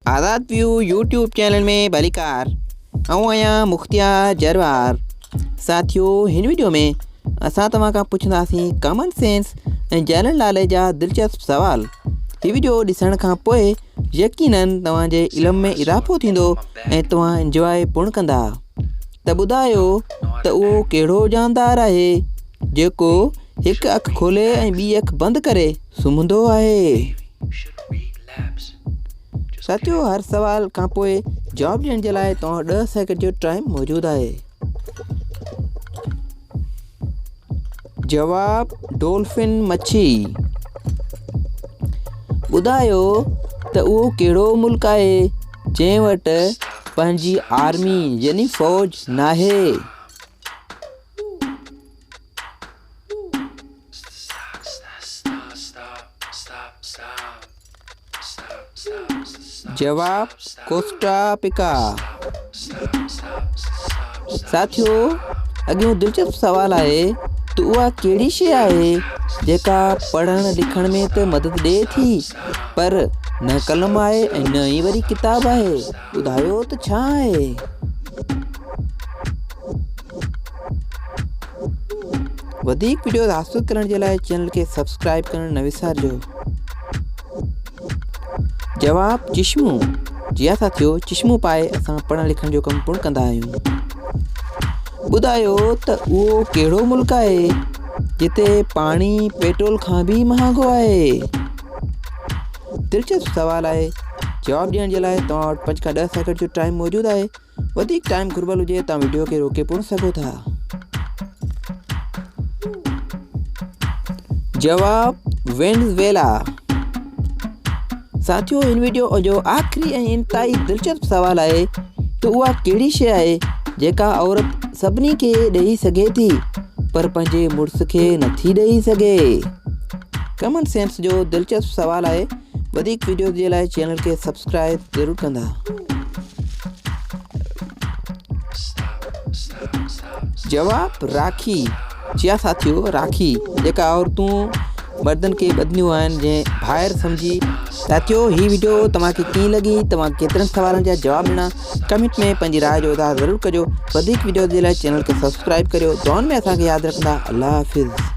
آزاد ويو YouTube channel ۾ ڀليڪار آئون آهيان مختيار جروار ساٿيو هن ويڊيو ۾ اسان توهان کان پڇنداسين ڪامن سينس ۽ جنرل ناليج جا دلچسپ سوال هي ويڊيو ڏسڻ کان پوء يقينن توهان جي علم ۾ اضافو ٿيندو ۽ توهان انجواء پڻ ڪندا ته ٻڌايو ته اهو ڪهڙو جاندار آهي جيڪو هڪ اک کولي ۽ ٻي اک بند ڪري سمهندو آهي ساٿيو هر سوال کان پوء جواب ڏيڻ جي لاء توهان وٽ ڏهه سيڪنڊ جو ٽائيم موجود آهي جواب ڊولفن مڇي ٻڌايو ته اهو ڪهڙو ملڪ آهي جنهن وٽ پنهنجي آرمي يعني فوج ناهي جواب، ڪوسٽا پيڪا. ساٿيو! اڳيون دلچسپ سوال آهي ته اها ڪهڙي شيء آهي جيڪا پڙهڻ لکڻ ۾ ته مدد ڏئي ٿي پر نه قلم آهي ۽ نه ئي وري ڪتاب آهي ٻڌايو ته ڇا آهي؟ وڌيڪ وڊيوز حاصل ڪرڻ جي لاء چينل کي سبسڪرائب ڪرڻ نه وسارجو جواب چشمو جيا سا ٿيو چشمو پائي اسان پڙهڻ لکڻ جو ڪم پڻ ڪندا آهيون ٻڌايو ته اهو ڪهڙو ملڪ آهي جتي پاڻي پيٽرول کان به مهانگو آهي دلچسپ سوال آهي جواب ڏيڻ جي لاء توهان وٽ پنج کان ڏهه سيڪنڊ جو ٽائم موجود آهي وڌيڪ ٽائيم گهربل هجي تان وڊيو کي روڪي پڻ سگهو ٿا. جواب، وينزويلا ساٿيو هن وڊيو جو آخري ۽ انتهائي دلچسپ سوال آهي ته اها ڪهڙي شيء آهي جيڪا عورت سڀني کي ڏئي سگهي ٿي پر پنهنجي مڙس کي نٿي ڏئي سگهي. ڪمن سينس جو دلچسپ سوال آهي. وڌيڪ ويڊيوز جي لاء چينل کي سبسڪرائب ضرور ڪندا. جواب، راکي جيا ساٿيو راکي جيڪا عورتون مردن کي ٻڌنديون آهن جنهن ڀائر سمجهي ساٿيو هي ويڊيو توهان کي ڪيئن لڳي توهان ڪيترن سوالن جا جواب ڏنا ڪمنٽ ۾ پنهنجي راء جو اظهار ضرور ڪجو وڌيڪ ويڊيوز جي لاء چينل کي سبسڪرائب ڪريو دعائن ۾ اسان کي ياد رکندا الله حافظ